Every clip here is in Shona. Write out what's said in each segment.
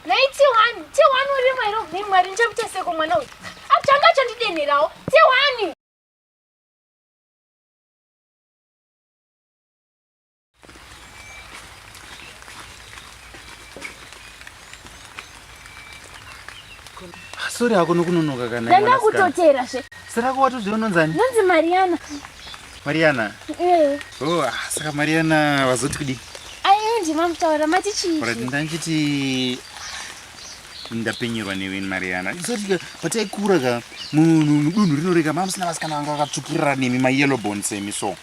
Nhai Tiwani, Tiwani uri mwari ubvi mwari ndichamuita seko mwana uyu. Atanga achandidenherawo. Tiwani. Sorry hako nokunonoka kana. Ndanga kutotera zve. Sera ko watozviononzani? Nonzi Mariana. Mariana. Eh. Oh, ah, saka Mariana vazoti kudii? Ayendi mamutaura mati chii? Ora ndangiti ndapenyerwa newe Mariana. Izotika pataikura ka munhu mudunhu rinoreka mamusina vasikana vanga vakatsvukirira nemi ma yellow bone semi so.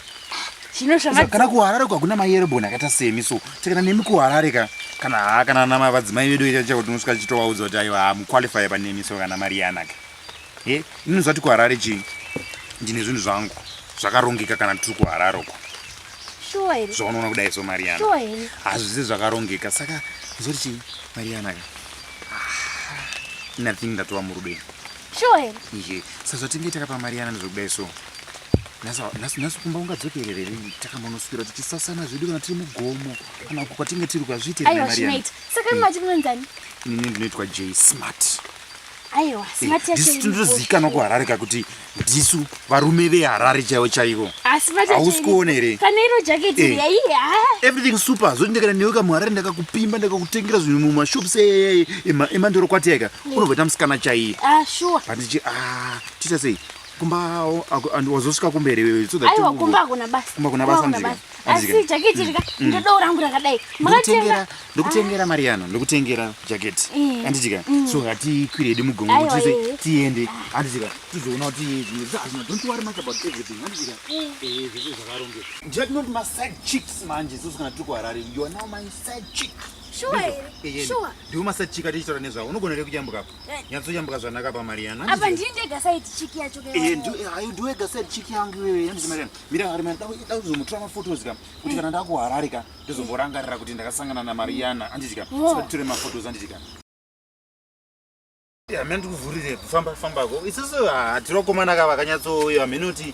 Chino zvanga kana ku Harare kwa kuna ma yellow bone akaita semi so. Tekana nemi ku Harare ka kana ha kana na mavadzimai vedu ita chakuti unosvika chitovaudza kuti aiwa ha mu qualify pa nemi so kana Mariana ka. He, ini zati kuHarare chii? Ndine zvinhu zvangu zvakarongeka kana tiri kuHarare uko. Shuwa here? Zvaunoona kudai so Mariana. Shuwa here? Hazvisi zvakarongeka saka zoti chii Mariana ka? Ah, nothing ndatova murudo ini. Shuwa here? Ihe, sazvatinge takapa Mariana ndizvokudai so. Nhasi kumba ungadzokerere rini takambonoswira tichisasana zvedu kana tiri mugomo kana uko kwatinge tiri kwazviite Mariana. Aiwa, zvinoita. Saka imati munoenzani? Ini ndinoitwa J Smart. aiwa smatndinozivikanwa kuharare ka kuti ndisu varume veharare chaivo chaivo hausi kuona here everything super zoti ndikana newe kamuharare ndakakupimba ndakakutengera zvinhu mumashops emandoro kwatiaika unovoita musikana chaiye pandichi ah, tiita sei kumba wazosvika kumberi wewekumba kuna basa asi jaketi rika mm. ndodowo rangu rakadai makatenga ndokutengera ah. mariano ndokutengera jaketi eh. handitika mm. so hatikwire hedu mugongo kuti eh. tiende handitika tizoona kuti zvimwe zvazvino don't worry much about everything handitika eh. zvese zvakarongeka jack not my side chicks manje sosi kana tiri kuharare you are now my side chick sure sure ndiwo maside chick atichitaura nezvavo unogona here kuyambukapo nyatsoyambuka zvanaka pamariana apa ndii ndega saidi chiki yacho eh, eh, ndiwega saidi chiki yangu iwewe yandizi mariana mira mariana da kuzomutora mafotos ka kuti kana ndakuharare ka ndizomborangarira kuti ndakasangana namariana anditi ka satitore mafotos anditi ka hamene ndikuvhurire kufamba fambako isiso hatiri vakomana ka vakanyatsoyo hamene kuti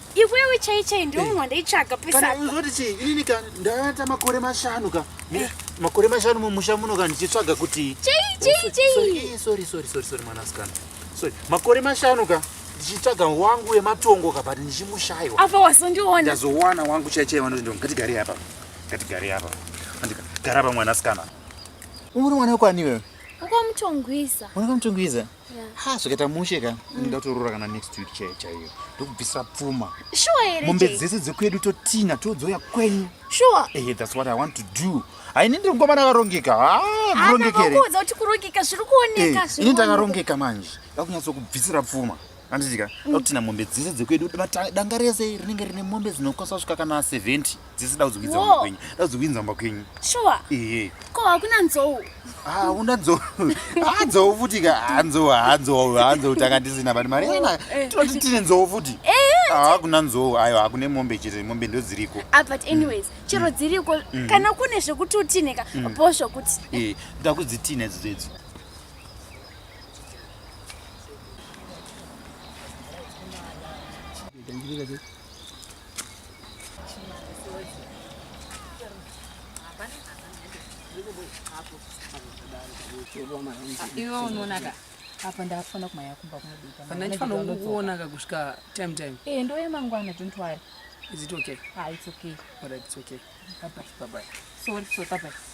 iwewe chai chai ndiwo munhu wandaitsvaga pesauzoti chii inini ka ndavata makore mashanu ka eh. makore mashanu mumusha muno ka ndichitsvaga kuti chaichaichaisorry mwanasikana sorry makore mashanu ka ndichitsvaga wangu wematongo ka but ndichimushaiwa apa wazondiona ndazowana wangu chai chai vanoti ndo ngatigare apa ngatigare apa andika gara apa mwanasikana uri mwana wekwani iwewe ukamutongwiza ukamutongwiza ha zvikaita mushe ka mm. ndatoorora kana next week chaiyo chaiyo ndokubvisira pfuma mombe dzese dzekwedu totina todzoya kwenyu sure ehe that's what i want to do haini ndiri ngomana akarongeka hakurongekerakuudza kuti kurongeka zviri kuoneka eh, ini ndakarongeka manje ndakunyatsokubvisira pfuma anditika mm. ndakutina mombe dzese dzekwedu danga rese rinenge rine mombe dzinokwanisa kusvika kana 70 dzese daudzikuinza mumba kwenyu daudzikuinza mumba kwenyu shuwa ehe ko hakuna nzou hauna ah, nzou hanzou ah, futi ka hanzou ah, hanzou hanzou tanga tisina but mari ena oh, eh. tinoti tine nzou futi hakuna eh, eh, nzou ayo hakune mombe chete mombe ndo dziriko but anyways mm. chero mm. dziriko mm. kana kune zvekuti utine ka bo zvokuti e nda kudzitine idzo dzedzo Thank you. iwe unoonaka apa ndafana kumaya kumba kunodikandaifanira kuonaka kusvika time time e eh, ndoye mangwana don't worry is it okay ah it's okay all right it's okay bye bye bye bye sorry so bye bye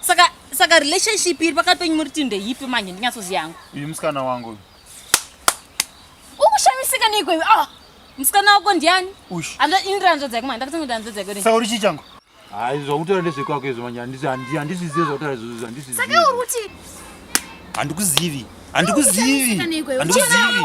saka saka relationship iri pakati penyu muri tinde yipi manje ndinyatsoziva yangu uyu musikana wangu uyu ukushamisika neiko iwe ah musikana wako ndiani ini ranzvadza yako manje ndakatanga kuti ranzvadza yako saka uri chii changu hayi zvakutaura ndezvekwako izvo manje handizvizive zvakutaura izvozvo handizvisaka uri kuti handikuzivi handikuzivi handikuzivi